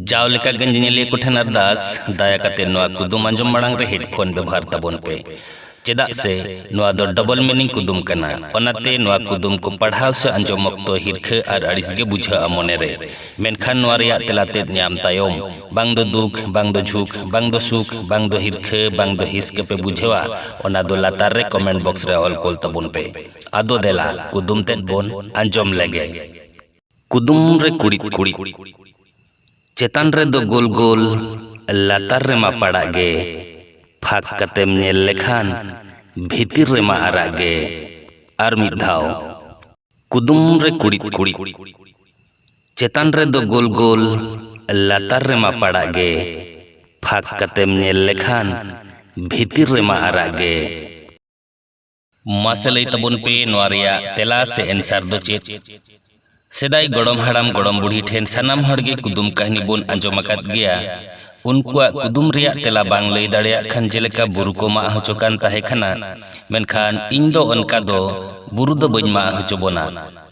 ᱡᱟᱣ ᱞᱮᱠᱟ ᱜᱮ ᱧᱮᱧᱮᱞᱤᱭᱟᱹ ᱠᱚ ᱴᱷᱮᱱ ᱟᱨᱫᱟᱥ, ᱫᱟᱭᱟ ᱠᱟᱛᱮ ᱱᱚᱣᱟ ᱠᱩᱫᱩᱢ ᱟᱸᱡᱚᱢ ᱢᱟᱲᱟᱝ ᱨᱮ ᱦᱮᱰᱯᱷᱳᱱ ᱵᱮᱵᱷᱟᱨ ᱛᱟᱵᱚᱱ ᱯᱮ, ᱪᱮᱫᱟᱜ ᱥᱮ ᱱᱚᱣᱟ ᱫᱚ ᱰᱚᱵᱚᱞ ᱢᱤᱱᱤᱝ ᱠᱩᱫᱩᱢ ᱠᱟᱱᱟ᱾ ᱚᱱᱟᱛᱮ ᱱᱚᱣᱟ ᱠᱩᱫᱩᱢ ᱠᱚ ᱯᱟᱲᱦᱟᱣ ᱥᱮ ᱟᱸᱡᱚᱢ ᱚᱠᱛᱚ ᱦᱤᱨᱠᱷᱟᱹ ᱟᱨ ᱟᱹᱲᱤᱥ ᱜᱮ ᱵᱩᱡᱷᱟᱹᱜᱼᱟ ᱢᱚᱱᱮ ᱨᱮ᱾ ᱢᱮᱱᱠᱷᱟᱱ ᱱᱚᱣᱟ ᱨᱮᱭᱟᱜ ᱛᱮᱞᱟ ᱛᱮᱫ ᱧᱟᱢ ᱛᱟᱭᱚᱢ, ᱵᱟᱝ ᱫᱚ ᱫᱩᱠ, ᱵᱟᱝ ᱫᱚ ᱡᱷᱩᱠ, ᱵᱟᱝ ᱫᱚ ᱥᱩᱠ, ᱵᱟᱝ ᱫᱚ ᱦᱤᱨᱠᱷᱟᱹ, ᱵᱟᱝ ᱫᱚ ᱦᱤᱸᱥ ᱜᱮ ᱯᱮ ᱵᱩᱡᱷᱟᱹᱣᱟ, ᱚᱱᱟ ᱫᱚ ᱞᱟᱛᱟᱨ ᱨᱮ ᱠᱚᱢᱮᱱᱴ ᱵᱚᱠᱥ ᱨᱮ ᱚᱞ ᱠᱳᱞ ᱛᱟᱵᱚᱱ ᱯᱮ᱾ ᱟᱫᱚ ᱫᱮᱞᱟ ᱠᱩᱫᱩᱢ ᱛᱮᱫ ᱵᱚᱱ ᱟᱸᱡᱚᱢ ᱞᱮᱜᱮ᱾ ᱠᱩᱫᱩᱢ ᱨᱮ ᱠᱩᱲᱤᱫ ᱠᱩᱲᱤᱫ ᱪᱮᱛᱟᱱ ᱨᱮᱫᱚ ᱜᱳᱞ ᱜᱳᱞ ᱞᱟᱛᱟᱨ ᱨᱮᱢᱟ ᱯᱟᱲᱟᱜ ᱜᱮ ᱯᱷᱟᱸᱠ ᱠᱟᱛᱮᱢ ᱧᱮᱞ ᱞᱮᱠᱷᱟᱱ ᱵᱷᱤᱛᱤᱨ ᱨᱮᱢᱟ ᱟᱨᱟᱜ ᱜᱮ ᱟᱨ ᱢᱤᱫ ᱫᱷᱟᱣ ᱠᱩᱫᱩᱢ ᱨᱮ ᱠᱩᱲᱤᱫ ᱠᱩᱲᱤᱫ ᱪᱮᱛᱟᱱ ᱨᱮᱫᱚ ᱜᱳᱞ ᱜᱳᱞ ᱞᱟᱛᱟᱨ ᱨᱮᱢᱟ ᱯᱟᱲᱟᱜ ᱜᱮ ᱯᱷᱟᱸᱠ ᱠᱟᱛᱮᱢ ᱧᱮᱞ ᱞᱮᱠᱷᱟᱱ ᱵᱷᱤᱛᱤᱨ ᱨᱮᱢᱟ ᱟᱨᱟᱜ ᱜᱮ ᱢᱟᱥᱮ ᱞᱟᱹᱭ ᱛᱟᱵᱚᱱ ᱯᱮ ᱱᱚᱣᱟ ᱨᱮᱭᱟᱜ ᱛᱮᱞᱟ ᱥᱮ ᱮᱱᱥᱟᱨ ᱫᱚ ᱪᱮᱫ ᱥᱮᱫᱟᱭ ᱜᱚᱲᱚᱢ ᱦᱟᱲᱟᱢ ᱜᱚᱲᱚᱢ ᱵᱩᱲᱦᱤ ᱴᱷᱮᱱ ᱥᱟᱱᱟᱢ ᱦᱚᱲ ᱜᱮ ᱠᱩᱫᱩᱢ ᱠᱟᱹᱦᱱᱤ ᱵᱚᱱ ᱟᱸᱡᱚᱢ ᱟᱠᱟᱫ ᱜᱮᱭᱟ ᱩᱱᱠᱩᱣᱟᱜ ᱠᱩᱫᱩᱢ ᱨᱮᱭᱟᱜ ᱛᱮᱞᱟ ᱵᱟᱝ ᱞᱟᱹᱭ ᱫᱟᱲᱮᱭᱟᱜ ᱠᱷᱟᱱ ᱡᱮᱞᱮᱠᱟ ᱵᱩᱨᱩ ᱠᱚ ᱢᱟᱜ ᱦᱚᱪᱚ ᱠᱟᱱ ᱛᱟᱦᱮᱸ ᱠᱟᱱᱟ ᱢᱮᱱᱠᱷᱟᱱ ᱤᱧ ᱫᱚ ᱚᱱᱠᱟ ᱫᱚ ᱵᱩᱨᱩ ᱫᱚ ᱵᱟᱹᱧ ᱢᱟᱜ ᱦᱚᱪᱚ ᱵᱚᱱᱟ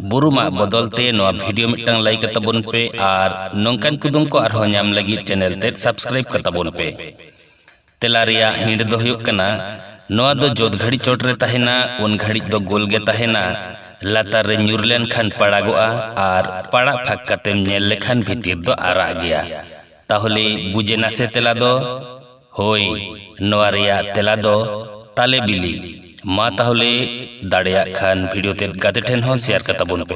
ᱵᱩᱨᱩ ᱢᱟᱜ ᱵᱚᱫᱚᱞ ᱛᱮ ᱱᱚᱣᱟ ᱵᱷᱤᱰᱤᱭᱳ ᱢᱤᱫᱴᱟᱝ ᱞᱟᱭᱤᱠ ᱠᱟᱛᱟᱵᱚᱱ ᱯᱮ ᱟᱨ ᱱᱚᱝᱠᱟᱱ ᱠᱩᱫᱩᱢ ᱠᱚ ᱟᱨᱦᱚᱸ ᱧᱟᱢ ᱞᱟᱹᱜᱤᱫ ᱪᱮᱱᱮᱞ ᱛᱮᱫ ᱥᱟᱵᱥᱠᱨᱟᱭᱤᱵ ᱠᱟᱛᱟᱵᱚᱱ ᱯᱮ ᱛᱮᱞᱟ ᱨᱮᱭᱟᱜ ᱦᱤᱸᱰ ᱫᱚ ᱦᱩᱭᱩᱜ ᱠᱟᱱᱟ ᱱᱚᱣᱟ ᱫᱚ ᱡᱚᱛ ᱜᱷᱟᱹᱲᱤᱡ ᱪᱚᱴ ᱨᱮ ᱛᱟᱦᱮᱸᱱᱟ ᱩᱱ ᱜᱷᱟᱹᱲᱤᱡ ᱫᱚ ᱜᱳᱞ ᱜᱮ ᱛᱟᱦᱮᱸᱱᱟ ᱞᱟᱛᱟᱨ ᱨᱮ ᱧᱩᱨ ᱞᱮᱱ ᱠᱷᱟᱱ ᱯᱟᱲᱟᱜᱚᱜᱼᱟ ᱟᱨ ᱯᱟᱲᱟᱜ ᱯᱷᱟᱸᱠ ᱠᱟᱛᱮᱢ ᱧᱮᱞ ᱞᱮᱠᱷᱟᱱ ᱵᱷᱤᱛᱤᱨ ᱫᱚ ᱟᱨᱟᱜ ᱜᱮᱭᱟ ᱛᱟᱦᱚᱞᱮ ᱵᱩᱡᱽ ᱮᱱᱟ ᱥᱮ ᱛᱮᱞᱟ ᱫᱚ ᱦᱳᱭ ᱱᱚᱣᱟ ᱨᱮᱭᱟᱜ ᱛᱮᱞᱟ ᱫᱚ ᱛᱟᱞᱮ ᱵᱤᱞᱤ ᱢᱟ ᱛᱟᱦᱚᱞᱮ ᱫᱟᱲᱮᱭᱟᱜ ᱠᱷᱟᱱ ᱵᱷᱤᱰᱤᱭᱳ ᱛᱮᱫ ᱜᱟᱛᱮ ᱴᱷᱮᱱ ᱦᱚᱸ ᱥᱮᱭᱟᱨ ᱠᱟᱛᱟᱵᱚᱱ ᱯᱮ